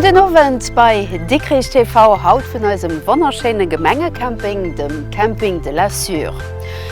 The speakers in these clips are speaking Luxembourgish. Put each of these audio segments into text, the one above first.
Gudden Owend bei Dikrich TV, haut vun eisem wonnerschéine Gemengecamping, dem Camping de la Sûre.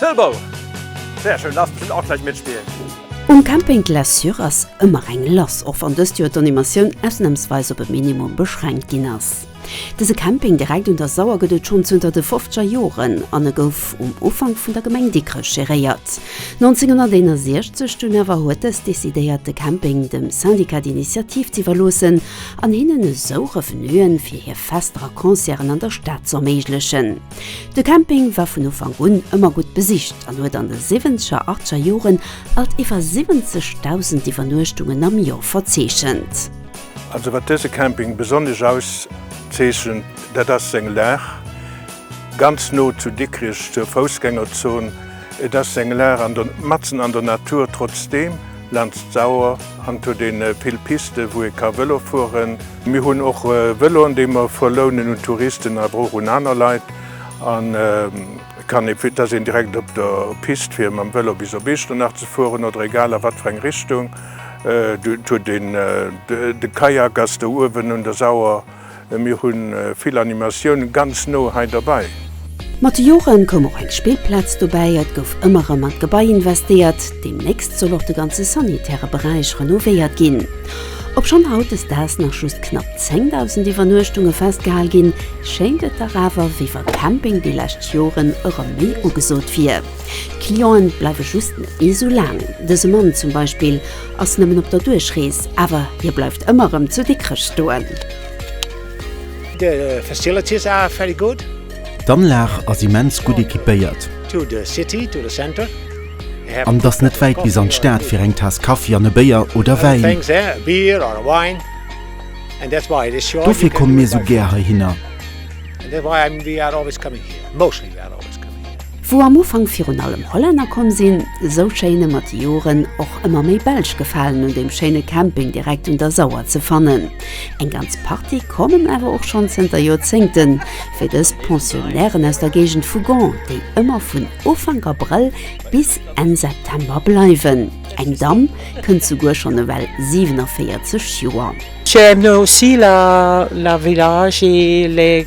Tëllbou! Sehr schön, darfst bestimmt auch gleich mitspielen. Um Camping Glaçure ass ëmmer eng lass, och wann dëst Joer d'Animatioun ausnamsweis op e Minimum beschränkt ginn ass. Dëse Camping direkt un der Sauer gëtt et schonn zënter de fofzeger Joren an e gouf um Ufank vun der Gemeng Dikrech geréiert. 1961 dunn awer huet dës decidéiert de Camping dem Syndicat d'Initiative z'iwwerloossen an hinnen esou Revenuen fir hir Fester a Concerten an der Stad z'erméiglechen. De Camping war vun Ufank un ëmmer gutt besicht an huet an de siwwenzeger, achteger Joren alt iwwer 70.000 Iwwernuechtungen am Joer verzeechent. Also wat dëse Camping besonnesch auszeechent, dat ass seng Lag, ganz no zu Dikrich zur Foussgängerzon. Et ass eng Lag matzen an der Natur, trotzdeem, Laanst d'Sauer an to den vill Pisten wou ee ka Velo fueren. Mir hunn och Veloen déi mer verlounen un Touristen awer och un aner Leit an kann ee fir dass een direkt op der Pist fir mam Velo bis op Iechternach ze fueren oder egal a wat fir eng Richtung. Huet een de Kajak ass do uewen un der Sauer. Mir hu vill Animatioun ganz no hei derbäi. Mat de Jore koum och eng Spillplaz dobäi. Et gouf ëmmer erëm an d'Gebai investéiert. Deemnächst soll och de ganze sanitäre Beräich renovéiert ginn. Obschonn hautdesdaags nach just knapp 10.000 Iwwernuechtunge festgehal ginn, schéint et dach awer, wéi wa Camping déi lescht Joren erëm méi ugesot wier. D'Clienten bleiwe just net méi esou laang. Dëse Mann zum Beispill Ass nëmmen op der Duerchrees, awer hie bleift ëmmer erëm zu Dikrech stoen. The facilities are very good. D'Anlag ass immens gutt equipéiert. To the city, to the center. An et ass net wäit bis an d'Stad fir eng Taass Kaffi an e Béier oder Wäin. Dofir komme mir sou gär heihinner. Wou am Ufank virun allem Hollänner komm sinn, esou schéine mat de Joren och ëmmer méi Belsch gefalen un deem schéine Camping direkt un der Sauer ze fannen. Eng ganz Partie kommen awer och schonn zënter Joerzéngten, wéi dës Pensionnairen aus der Géigend vu Gand, déi ëmmer vun Ufank Abrëll bis Enn September bleiwen. Eng Damm kënnt souguer schonn ewell 47 Joer. J'aime aussi la village et les.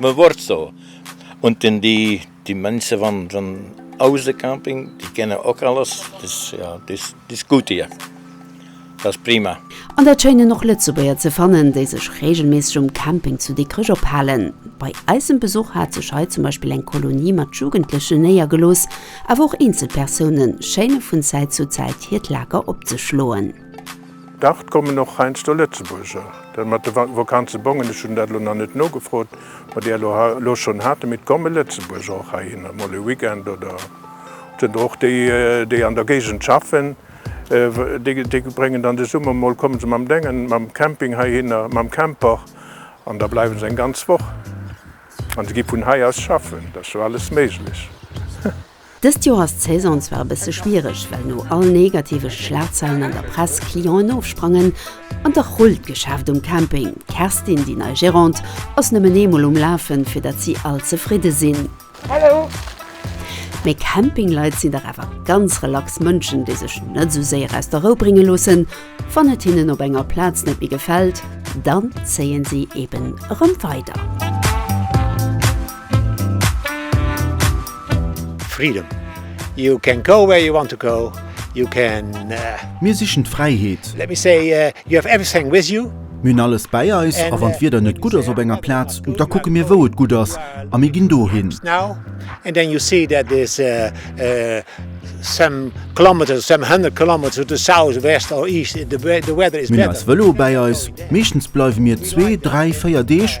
Me wort zo und den di di mense van van ause camping di kenne ok alles dis ja dis dis gut hier das prima. An dat schéinen och Lëtzebuerger ze fannen, déi sech reegelméisseg um Camping zu Dikrech ophalen. Bei eisem Besuch hat sech hei zum Beispill eng Kolonie mat Jugendlechen néiergelooss, awer och eenzel Persounen schéine vun Zäit zu Zäit hiert Lager opzeschloen. Dach, d'kommen och heiansdo Lëtzebuerger, dat mat de Vakanzebongen, ech hunn dat elo nach net nogefrot, wat Dir elo schonn hat, mee d'komme Lëtzebuerger och heihinner, mol e Weekend oder oder och déi, déi an der Géigend schaffen, déi bréngen dann de Summer mol, komme se mam Déngen, mam Camping heihinner, mam Camper an da bleiwe se eng ganz Woch an se gi vun hei aus schaffen. Dat ass jo alles méiglech. Dëst Joer ass d'Saison zwar e bësse schwiereg, well no all negative Schlagzeilen an der Press Clienten ofsprangen an dach rullt d'Geschäft um Camping. D'Kerstin, déi nei Gérante, ass nëmmen ee Mol um Lafen, fir datt si all zefridde sinn. Mee Campingleit sinn dach awer ganz relax Mënschen, déi sech net esou séier aus der Rou brénge loossen. Wann et hinnen op enger Plaz net méi gefält, dann zéien si eben erëm weider. Freedom. You can go where you want to go. You can. Mir sichen d'Fräiheet. Let me say, you have everything with you. Mir hunn alles bäi eis, a wann d'Wieder net gutt ass op enger Plaz, da kucke mir wou et gutt ass a mir ginn dohin. Now and then you see that is some kilometres, some hundred kilometres to the south, west or east, the weather is better. Mir hunn eis Vëlo bäi eis. Meeschtens bleiwe mir zwee, dräi, véier Deeg.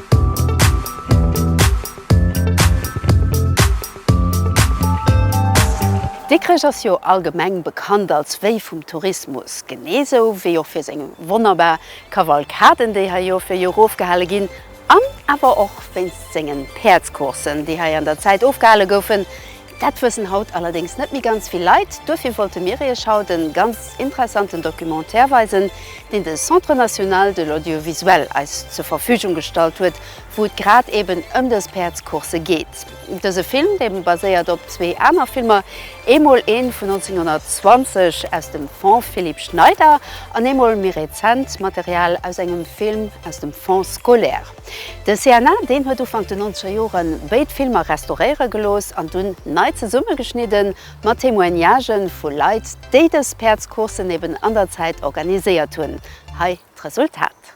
Dikrech ass jo allgemeng bekannt als Wéi vum Tourismus, genee sou wéi och fir seng wonnerbar Kavalkaden, déi hei Joer fir Joer ofgehale ginn, an awer och wéinst sengen Päerdscoursen, déi hei an der Zäit ofgehale goufen, Dat wëssen haut allerdéngs net méi ganz vill Leit, duerfir wollte mir iech haut e ganz interessanten Documentaire weisen, deen de Centre National de l'Audiovisuel eis zur Verfügung gestallt huet, wou et grad eben ëm dës Päerdscoursse geet. Dëse Film, dee baséiert op zwee aner Filmer, eemol ee vun 1920 aus dem Fonds Philippe Schneider an eemol méi rezent Material aus engem Film aus dem Fonds scolaire. De CNA, deen huet Ufank den nonzeger Joren béid Filmer restauréiere gelooss an dunn nei zesummegeschnidden, mat Témoignagen vu Leit, déi dës Päerdscoursen eben an der Zäit organiséiert hunn. Hei d'Resultat.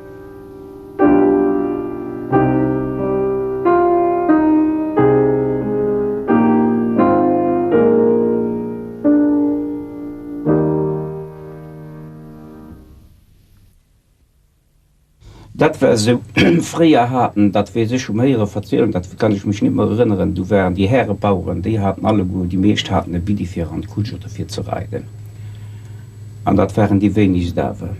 Dat war esou. Fréier haten, dat weess ech um Héieren verzielen, dat kann ech mech net méi erënneren, do waren déi Härebaueren, déi haten alleguer, déi meescht haten e Biddi fir an d'Kutsch oder fir ze reiden. An dat waren déi wéinegst awer.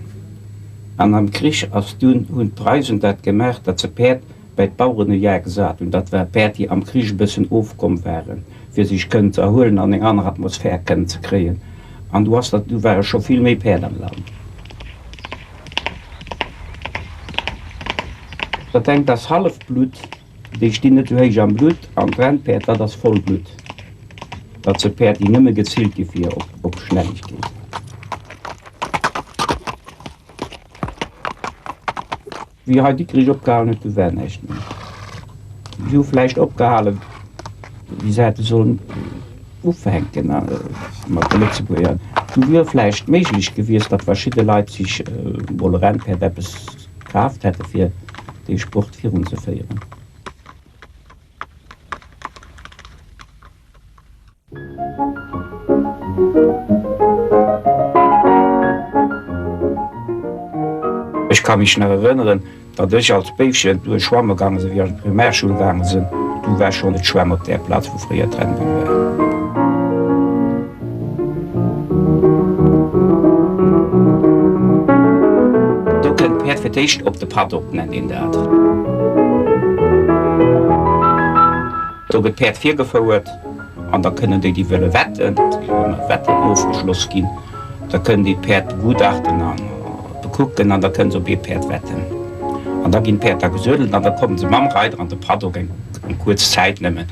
An am Krich ass dunn, hunn d'Preisen dat gemaach, datt se Päerd bäi d'Baueren u Jar gesat hunn. Dat war Päerd, déi am Krich e bëssen ofkomm waren, fir sech kënnen ze erhuelen an eng aner Atmosphär kënnen ze kréien. An du ass dat, du ware scho vill méi Päerd am Land. Dat engt ass Hallefblutt. Déi stinn net sou héich am Blutt an d'Rennpäerd, dat ass Vollblutt. Dat se Päerd, déi nëmme gezillt gi fir op Schnellegkeet. Wéi hei Dikrich opgehalen huet, du war näischt méi. Si hu vläicht opgehale wéi se hätte sollen ufänken mat de Lëtzebuerger. Do wier vläicht méiglech gewiescht, datt verschidde Leit sech mol e Rennpäerd eppes d'Kraaft hätte fir dee Sport virunzeféieren. Ech ka mech nach erënneren, datt ech als Béifchen duerch schwamme gaange sinn, wéi ech an d'Primärschoul gaange sinn. Du war schonn et Schwämm op där Plaz, wou fréier d'Rennbunn war. Do kënnt d'Päerd fir d'éischt op de Paddock, nennt een dat. Do gëtt d'Päerd virgefouert an da kënnen déi, déi wëlle wetten, et gi jo ëmmer Wetten ofgeschloss ginn, da kënnen déi d'Päerd begutachten a bekucken an da kënnen se op ee Päerd wetten. An da ginn d'Päerd da gesuedelt an da komme se mam Reider an de Paddock, eng kuerz Zäit nëmmen.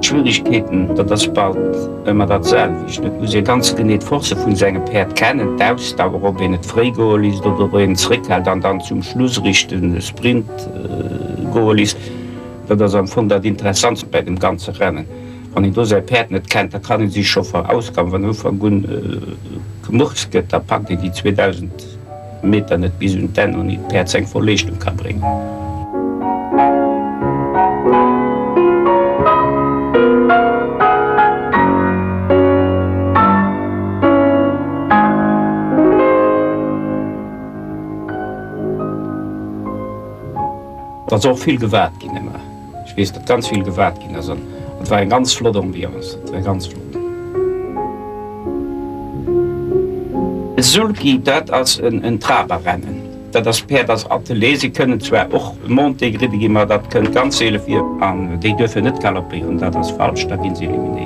Schwieregkeeten, dat ass bald ëmmer dat selwecht. Et muss ee ganz genee d'Force vun sengem Päerd kennen, d'Ausdauer, ob een et fréi goe lisst oder ob een zréckhält an dann zum Schluss richten Sprint goe lisst. Dat ass am Fong dat Interessantst bei dem ganze Rennen. Wann een do säi Päerd net kennt, da kann ee sech scho verausgaben. Wann am Ufank un gemurkst gëtt, da packt een déi 2000. Meter net bis un d'Enn ouni d'Päerds eng voll Leeschtung ka bréngen. Ass och vill gewaart ginn ëmmer. Ech weess dat ganz vill gewaart ginn ass an et war eng ganz flott Ambiance, et war ganz flott. Sulky, dat ass en Traberrennen, dat ass Päerd als Attelée, si kënnen zwar och montée gridde ginn, ma dat kënnt ganz seele vir an déi duerfen net galoppéieren, dat ass falsch, da gi se eliminéiert.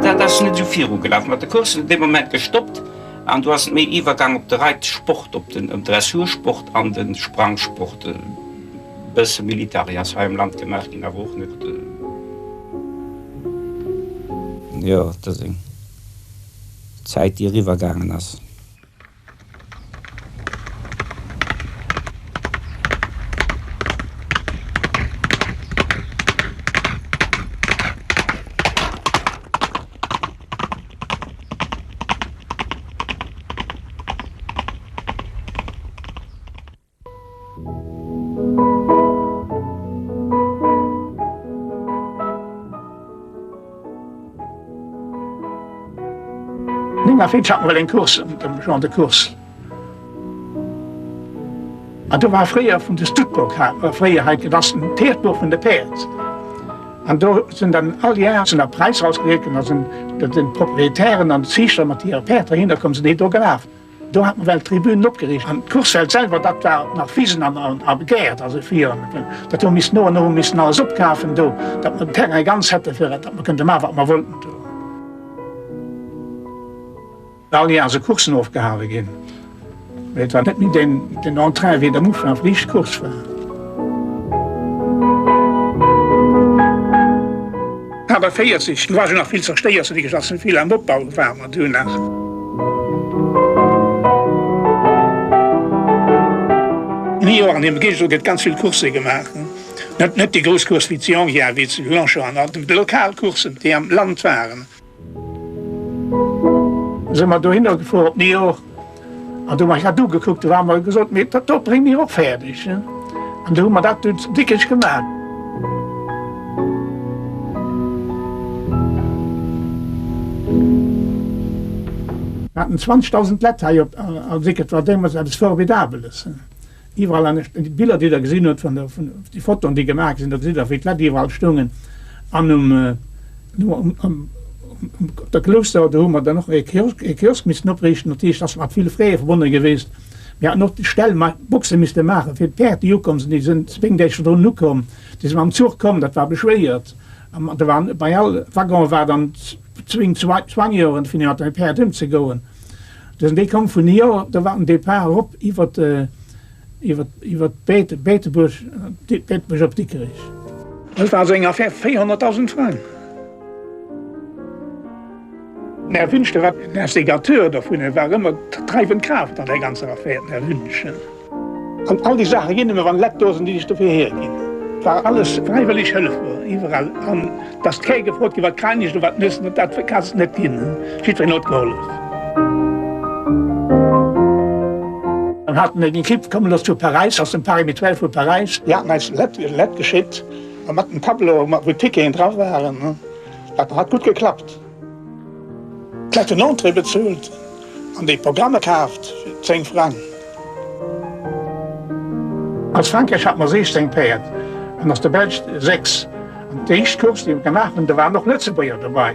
Dat ass net esou viru gelaf mat de Courssen, dee Moment gestoppt an du ass méi iwwergaang op de Reitsport, op den Dressursport an de Sprangsport. Bësse Militari ass hei am Land gemaach ginn, awer och net. Jo, et ass eng Zäit, déi eriwwergaangen ass. Nina Fitsch hat mol eng Course mat dem Jean de Course. An do war fréier vun de Stuttburg hat mer fréier hei dat ass den Tierchbuerg vun de Päerd. An do sinn dann all Jar sinn da Präisser ausgedeelt ginn, da sinn den Proprietären an d'Ziichter mat hire Päerd dohinner komm, sinn déi do gelaf. Do hat nawell d'Tribünen opgeriicht an d'Kursfeld selwer, dat war nach Wisen a Gäert, also fir dat hu mer missen no an no missen alles opkafen do, datt mer den Terrain ganz hätte fir datt mer kënnte maachen, wat mer wollten do. All Joer si Coursen ofgehale ginn, mee et war net méi den Entrain, wéi et am Ufank vun eischt Course war. Kader 40, do war scho nach vill zerstéiert, sou wéi gesot, vill am Opbau war. Mat Hu nach. Jo, an dem Gilles gëtt ganz vill Coursë gemaach. Net net déi grouss Course wéi zu Yonville, wéi zu Longchamp an alt, mee lokal Coursen, déi am Land waren. Sinn mer dohinner gefuer op Niort. An du hu mer dat ugekuckt, du hu mer gesot, mee dat do brénge mir och fäerdeg. An du hu mer dat do déckeg gemaach. Mir haten 20.000 Lett hei op, a wéi gëtt, war deemools eppes Formidabeles. Iwwerall anescht, déi Biller déi der gesinn hutt vun der, vun déi Fotoen déi gemaach gi sinn, da gesitt der wéi d'Leit iwwerall stoungen an um, um, um, op der Klousseau, do hu mer dann och ee Kiosk, ee Kiosk missten opriichten, dat heescht ass mat ville Frais verbonne gewiescht. Mir haten och Ställ mat Boxe misste maachen fir d'Päerd déi ukomm sinn, déi sinn zu Béngeeschen drun ukomm, déi si mam Zuch komm, dat war beschwéiert an da war bei all Waggon war dann d'Zwing, d'Zwang, d'Zwangioen fir mat deene Päerd ëm ze goen. Dësen Dee koum vun hir, da war den Depart erop iwwert iwwert Beetebuerg, Beetebuerg op Dikrich. Dëst war also eng Affaire 400.000 Frang. Den Här Wünsch, dee war den Instigateur dovun, e war ëmmer d'dreiwend Kraaft an där ganzer Affaire, den Här Wünsch. An all déi Saache ginn ëmmer an Lettdosen, déi sech dofir hierginn. Wa alles fräiwëlleg Hëllef wor iwwerall an dass d'Kéier gefrot ginn, wat kal Niicht oder wat Nüssen oder dat ka se net ginn, jiddwereen huet gehollef. An hat en eng Ekipp komme looss vu Paräis, aus dem Paris Mutuel vu Paräis. Déi haten eis Lett geschitt mat en Tableau, wou d'Ticketen dra waren. Dat hat gutt geklappt. D'Leit hunn Entrée bezuelt an déi Programme kaaft fir 10 Frang. Als Frankräich hat no 16 Päerd an als de Belsch 6 an d'éischt Course déi mer gemaach hunn, do waren och Lëtzebuerger dobei.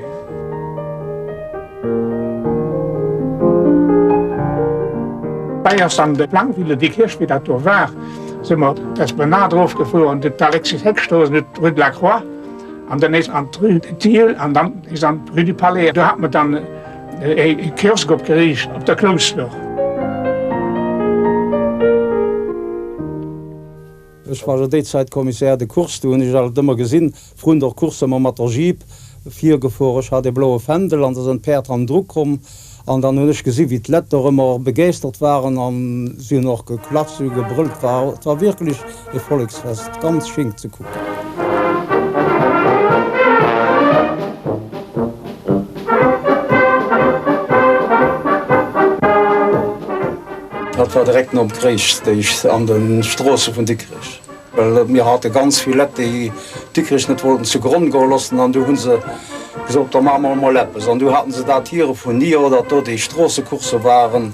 D'Bay ass an de Plainville, dee Kierchbierg dat do war, si mer d'Esplanade erofgefuer an d'Alexis Heck Strooss, rue de la Croix. An dann is an d'Rue de Thiel an dann is an d'Rue du Palais. Do hat mer dann ee Kiosk opgeriicht op der Klouschter. Ech war jo déi Zäit Commissaire de course. Do hunn ech alt ëmmer gesinn, vrun der Course ëmmer mat der Jeep virgefor. Ech hat ee bloue Fändel an da sënn d'Päerd hannendru komm. An dann hunn ech gesi wéi d'Lett dorëmmer och begeeschtert waren a si hunn och geklatscht, si hu gebrëllt. War et war wierklech ee Volleksfest, ganz schéin ze kucken. Dat war direkt nom Krich, déi an de Stroosse vun Dikrech. Well mir hate ganz vill Lett, déi Dikrich net wollten zu Gronn goe lossen, an du hu se gesot, da maache mer emol eppes. An du haten se dat hire vun Niort, datt do déi Stroossecoursse waren,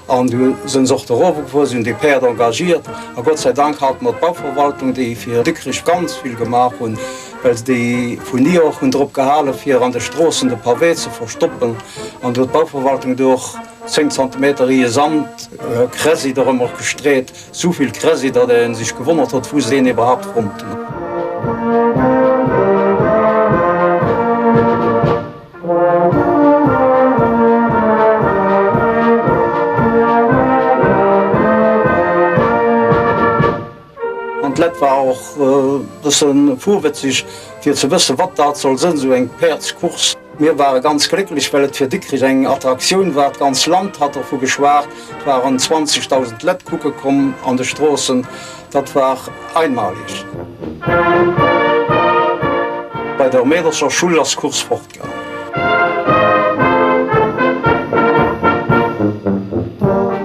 an du sinn se och do erofgefuer, si hunn déi Päerd engagiert. A Gott sei Dank hate mer d'Bauverwaltung, déi fir Dikrich ganz vill gemaach hunn, well déi vun Niort hunn drop gehale fir an de Stroossen de Pavé ze verstoppen, an do huet d'Bauverwaltung do och zéng Zentimeter Riihe Sand, Kräsi, de Remorque gestreet. Souvill Kräsi, datt een sech gewonnert hott wou se deen iwwerhaapt fonnten. An d'Lett war och bëssen fuerwëtzeg fir ze wëssen wat dat soll sënn, sou eng Päerdscourse. Mir ware ganz glécklech, well et fir Dikrich eng Attraktioun war. D'ganz Land hat dovu geschwat, et waren 20.000 Lett kucke komm an de Stroossen. Dat war einmalig. Bei der Mädelscher Schull ass d'Course fortgaangen.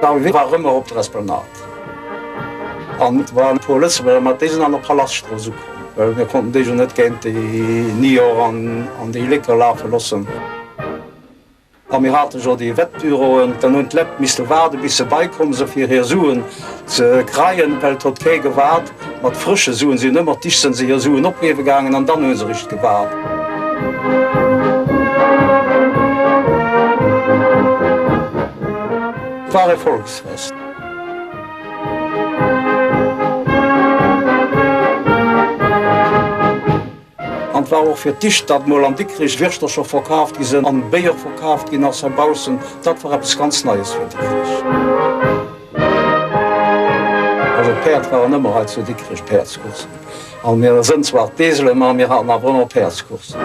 D'Arrivée war rëmmer op der Esplanade. An et waren e puer Lëtzebuerger, ma déi sinn an der Palaschtstrooss ukomm, well mir konnten déi jo net géint déi Nior an déi Lécker lafe loossen. A mir hate jo déi Wettbüroen, dann hunn d'Lett misste waarde bis se bäikomm sinn, fir hir Suen Ze kreien Elt hott ké gewaard, mat frësche Suen sin ëmmer d'Icht sen se hier Suen opgeewe gaangen an dann hun se richt gewaard. War e Volksfest. An war och fir d'ischt dat mol an Dikrich Wirschtercher verkaaft gi sen an Béier verkaaft gin ass hei baussen. Dat war eppes ganz Neies fir Dikrich. Also d'Päerd waren ëmmer hei zu Dikrich Päerdscoursen. An mir sen zwar d'Eselen, ma mir haten awer ëmmer Päerdscoursen.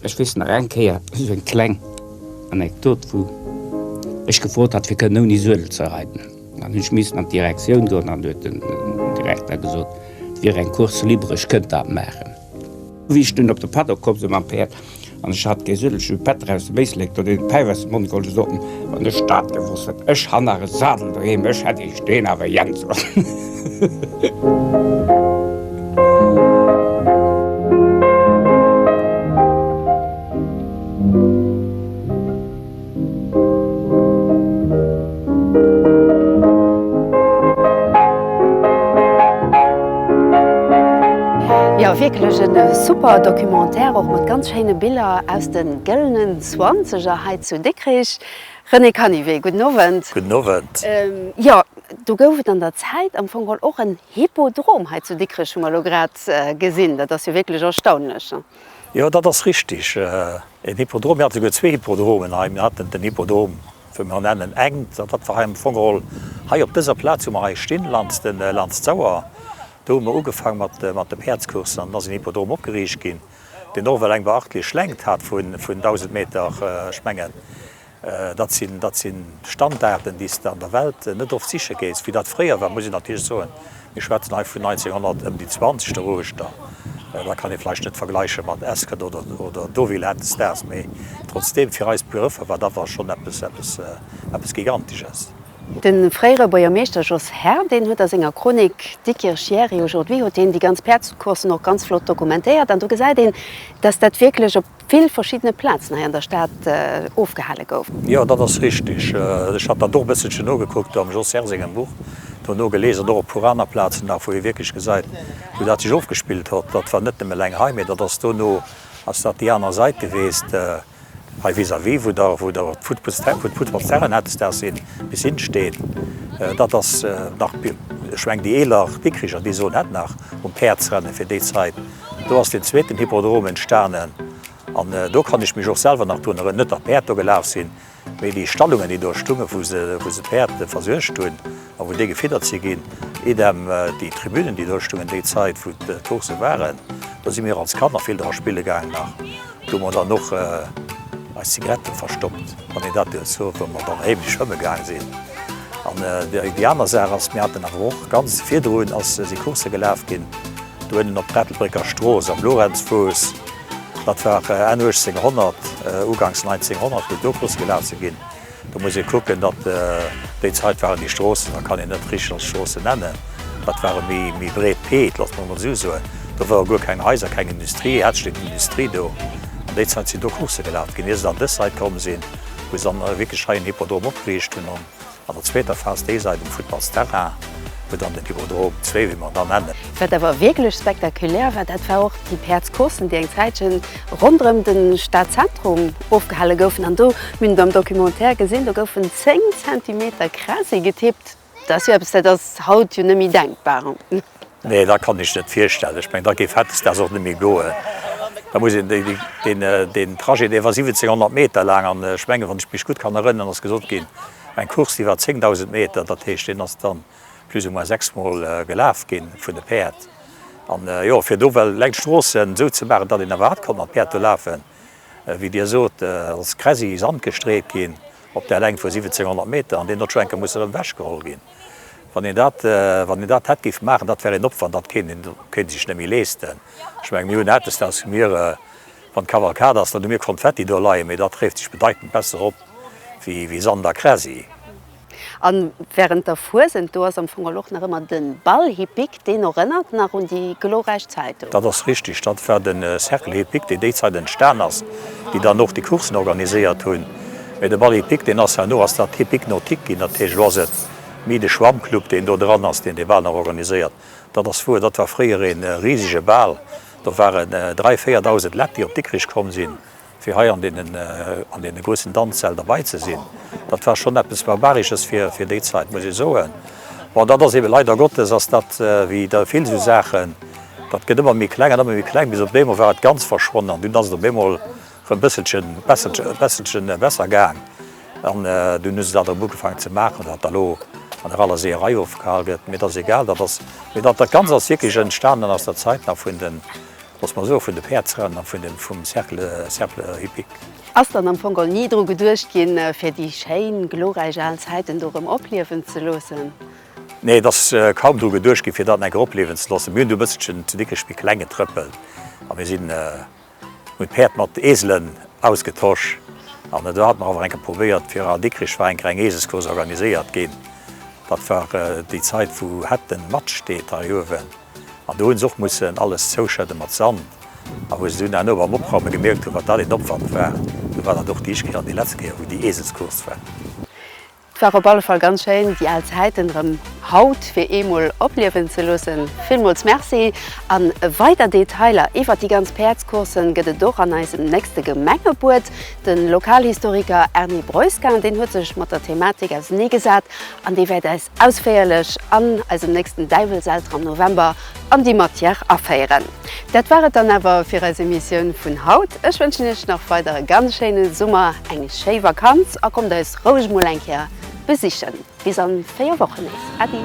Ech wis nach eng Keier so eng kleng Anekdot vu Ech gefrot hat fir kënne ouni Suedel ze reiten. An hunn missen an d'Direktioun goen an huet den Direkter gesot, et wier eng Course libre, ech kënnt dat maachen. Wéi ech dunn op de Paddock komm si mam Päerd an ech hat dee sëllege Pätter aus dem Éislek do, deen de Päif aus dem Mond geholl huet, sot en, Wann ech dat gewosst hätt! Ech han nach e Sadel doheem, ech hätt iech deen awer jänn soen! Jo, wierklech en super Documentaire, och mat ganz schéine Biller aus den Gëllenen Zwanzeger hei zu Dikrich. René Canivet, gudden Owend. Gudden Owend. Jo, do gouf et an der Zäit am Fong geholl och en Hippodrom hei zu Dikrich, hu mer elo grad gesinn. Dat ass jo wierklech erstaunlech. Jo, dat ass richtig. Een Hippodrom, mir hate souguer zwee Hippodromen hei. Mir haten den Hippodrom, wou mer en nennen eng, dat war hei am Fong geholl hei op dëser Plaz, wou mer hei stinn, laanscht d'Sauer. Do hu mer ugefaang mat de Päerdscoursen an dann ass en Hippodrom opgeriicht ginn, deen och ewell eng beachtlech Längt hat vun 1.000 Meter, ech mengen. Dat sinn, dat sinn Standarden, déi s de an der Welt net oft siche géss. Wéi dat fréier war, muss een natierlech soen, mir schwätzen hei vun 1900, ëm déi zwanzeg de Ruechter, dat kann ee vläicht net vergläiche mat Ascot oder, oder Deauville Head Stars, mee trotzdeem, fir eis Begrëffer war dat da schonn eppes, eppes, eppes Gigantesches. De fréiere Buergermeeschter Jos Herr, deen huet a senger Chronik Diekirch hier et est aujourd'hui, huet hien déi ganz Päerdscoursen och ganz flott dokumentéiert an do gesäit een, dass dat wierklech op, vill verschiddene Plazen hei an der Stad ofgehale gouf. Jo, dat ass richteg. Ech hat dat och e bësselchen nogekuckt am Jos Herr sengem Buch, do nogelies an och e puer aner Plazen nach, wou ee wierklech gesäit, wou dat sech ofgespillt hott. Dat war net nëmme eleng hei, mee dat ass dono ass dat déi aner Sait geweest, hei vis-à-vis, wou der, wou der d'Futtballsterrain, wou d'Futtballsterrain hatt des Daags een bis hinne steen. Dat ass nach, ech meng, déi eeler Dikricher, déi soen dat nach, um Päerdsrennen fir déi Zait. Do ass den zweeten Hippodrom entstanen an do kann ech mech och selwer nach drun erënneren, net datt d'Päerd do gelaf sinn, mee déi Stallungen, déi do stungen, wou se d'Päerd versuergt hunn a wou déi gefiddert si ginn, idem déi Tribünen, déi do stungen déi Zäit, wou d'Coursse waren. Do si mir och als Kanner vill dra spille gaangen nach. Do hu mer dann och eis Zigaretten verstoppt, wann een dat dierf soen, wa mer dann heemlech schwëmme gaange sinn. An déi aner Saach ass, mir haten awer och ganz virdrun, ass, si Coursse gelaf ginn. Do ënnen op d'Ettelbrécker Strooss am Lorenzfuuss, dat war Enn 1800, uganks 1900 wou do Busse gelaf si ginn. Do muss ee kucken, datt déi Zait waren déi Stroossen, dat kann een net richteg als Stroossen nennen, dat ware méi breet Peed, looss mer emol esou soen. Do ware guer keng Haiser, keng Industrie, hatt steet d'Industrie do. An déi Zait sinn do Coursse gelaf ginn, ier se dann dës Sait komm sinn, wou se dann wierklech hei en Hippodrom opgeriicht hunn. An der zweeter Phas déi Sait um Futtballsterrain, wou dann den Hypodrom zwee, wéi mer en da nennen. Wat awer wierklech spektakulär war, dat war och déi Päerdscoursen, déi eng Zäitchen ronderëm de Stadzentrum ofgehale goufen. An do, mir hunn et am Documentaire gesinn, do goufen 10 Zentimeter quasi getippt. Dat ass jo eppes, dat ass haut jo net méi denkbar. Nee, dat kann ech net virstellen. Ech mengen, da géif hautdesdaags och net méi goen. Da muss een deen Trajet, dee war 1.700 Meter laang an ech mengen, wann ech mech gutt kann erënneren, ass gesot ginn, eng Course, déi war 10.000 Meter. Dat heescht, deen ass dann plus ou moins sechsmol gelaf ginn vun de Päerd. An jo, fir do well leng Stroossen esou ze maachen, datt een awer hat konnt mat Päerd do lafen, wéi Dir sot, ass quasi Sand gestreet ginn op där Längt vu 1.700 Meter. An deen huet schonn eng Kéier musse erëm ewechgeholl ginn. Wann een dat, wann een dat hätt géif maachen, dat wär een Opwand, dat kéint een, kéint ee sech net méi leeschten. Ech mengen, mir hunn eppes, dat hu mir, wann d'Kavalkad ass, dann hu mir Konfetti do leien, mee dat réift sech bedeitend besser op wéi, wéi Sand a Kräsi. A wärend der Fuesent, do ass am Fong geholl och nach ëmmer de Bal hippique, Deen erënnert nach un déi glorräich Zäit do. Dat ass richtig. Dat war de Cercle Hippique, dee déi Zäit entstan ass, déi dann och déi Coursen organiséiert hunn. Mee de Bal Hippique, deen ass herno ass dat Hippique Nautique ginn. Dat heescht, elo ass et méi de Schwammclub, deen do dran ass, deen dee Bal nach organiséiert. Dat ass wuer. Dat war fréier ee risege Bal. Do waren dräi, véierdausend Lett, déi op Dikrich komm sinn. fir hei an deenen, an deene groussen Danzsäll derbei ze sinn, dat war schonn eppes Barbaresches fir, fir déi Zait, muss ee soen. Bon, dat ass eebe, leider Gottes ass dat wéi da vill esou Saachen, dat gëtt ëmmer méi kleng an ëmmer méi kleng, bis op eemol war et ganz verschwonnen an dunn ass et op eemol erëm e bësselchen, besselche, e besselchen besser gaang an dunn hu se dat erëm ugefaangen ze maachen, datt da lo an der aler Seeërei ofgehal gëtt. Mee et ass egal, dat ass, mee dat, dat Ganzt ass wierklech entstanen aus der Zait nach vun den, Looss mer soe vun de Päerdsrënn a vun dem vum Cercle, Cercle Hippique. Ass dann am Fong geholl ni dru geduecht ginn, fir déi schéin, glorräich al Zäiten do erëm opliewen ze loossen? Nee, et ass kaum dru geduecht ginn, fir dat enk eropliewen ze loossen. Mir hunn du e bësselchen ze dick Spickleng getrëppelt a mir sinn, hunn d'Päerd mat Eselen ausgetosch an et hat mer awer enke probéiert. Fir a Dikrich war enker eng Eselscourse organiséiert ginn. Dat war déi Zait, wou hat den Matsch steet hei uewen. An do hunn se och mussen alles zouschëdde mat Sand. A wou se dunn herno beim Opraume gemierkt hunn, wat dat een Opwand war, do war dat och déi éischt Kéier an déi letzt Kéier, wou déi Eeselscourse war. Et war op alle Fall ganz schéin, déi al Zäiten erëm haut fir eemol opliewen ze loossen. Villmools Merci! A weider Detailer iwwert déi ganz Päerdscoursen gëtt et och an eisem nächste Gemengebuet. De Lokalhistoriker Erny Breuskin, deen huet sech mat der Thematik auseneegesat an dee wäert Ausféierlech an eisem nächsten Däiwelselter am November an déi Matière aféieren. Dat war et dann awer fir eis Emissioun vun haut. Ech wënschen Iech nach weider e ganz schéine Summer, eng schéi Vakanz a kommt eis roueg mol eng Kéier besichen. Bis an 4 Wochen nees. Äddi!